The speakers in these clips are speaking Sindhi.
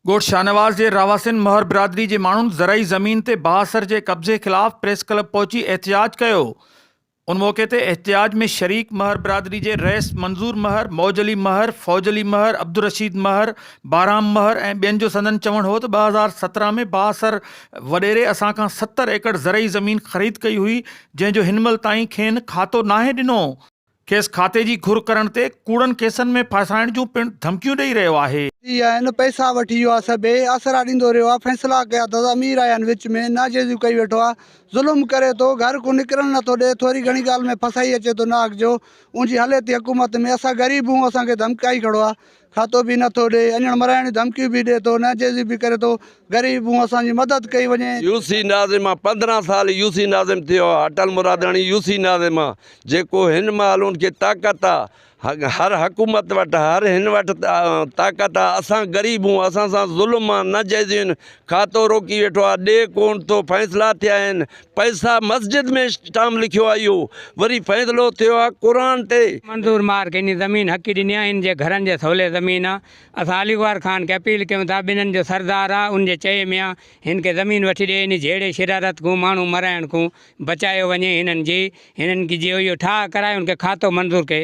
ڳوٺ شاهنواز جي رهواسين مهر برادري جي ماڻهن زرعي زمين تي بااثر جي قبضي خلاف پريس ڪلب پهچي احتجاج ڪيو ان موقعي تي احتجاج ۾ شريڪ مهر برادري جي رئيس منظور مهر، موج علي مهر، فوج علي مهر، عبدالرشيد مهر، بارام مهر ۽ ٻين جو سندن چوڻ هو ته ٻه هزار سترهن ۾ بااثر وڏيري اسان کان ستر ايڪڙ زرعي زمين خريد ڪئي هئي جنهن جو هن مهل تائين کين کاتو ناهي ڏنو کيس کاتي جي گهر ڪرڻ تي ڪوڙن ڪيسن ۾ ڦاسائڻ جون پڻ ڌمڪيون ڏئي رهيو آهي. ٿي ويا آهن پئسا وٺي يو آ سي بي آسرا ڏيندو رهيو آ فيصلا ڪيا تس امير آهيا ان وچ ۾ ناجائزيون ڪئي ويٺو آ ظلم ڪري ٿو گهر ڪون نڪرڻ نه ٿو ڏي ٿوري گهڻي ڳالهه ۾ ڦسائي اچي ٿو ناحق جو اونجي هلي ٿي حڪومت ۾ اسان غريب هون اسان کي ڌمڪائي کڙو آ کاتو به نه ٿو ڏئي، اڃڻ مرائڻ جون ڌمڪيون به ڏئي ٿو، ناجائزيون به ڪري ٿو، غريب مون اسان جي مدد ڪئي وڃي. يوسي ناظم مان پندرهن سال يوسي ناظم ٿيو آ اٽل مراداڻي يوسي ناظم آ جيڪو هن مهل ان کي طاقت آ هر حڪومت وٽ هر هن وٽ طاقت آ اسان غريب هون اسان سان ظلم آ ناجائزيون هين کاتو روڪي ويٺو آ ڏي ڪون ٿو فيصلا ٿيا هين پئسا مسجد ۾ اسٽام لکيو آ اهو وري فيصلو ٿيو آ قرآن تي. منظور مارڪ انهي زمين حقي ڏني آ ان جي گهرن جي سولي زمين آ اسان علي گوهر خان کي اپيل ڪيون ٿا ٻنن جو سردار آ ان جي چئي ۾ آ هن کي زمين وٺي ڏي انهي جهيڙي شرارت کون ماڻهون مرائڻ کون بچايو وڃي هنن جي هنن کي جي اهو ٺاهه ڪرائي ان کي کاتو منظور ڪي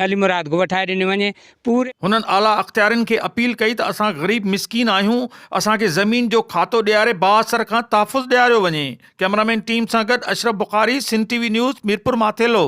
علي مراد کي وٺائي ڏني وڃي پور. هنن اعليٰ اختيارين کي اپيل ڪئي ته اسان غريب مسڪين آهيون اسان کي زمين جو کاتو ڏياري بااثر کان تحفظ ڏياريو وڃي ڪئمرامين ٽيم سان گڏ Ashraf Bukhari Sindh T V news Mirpur Mathelo.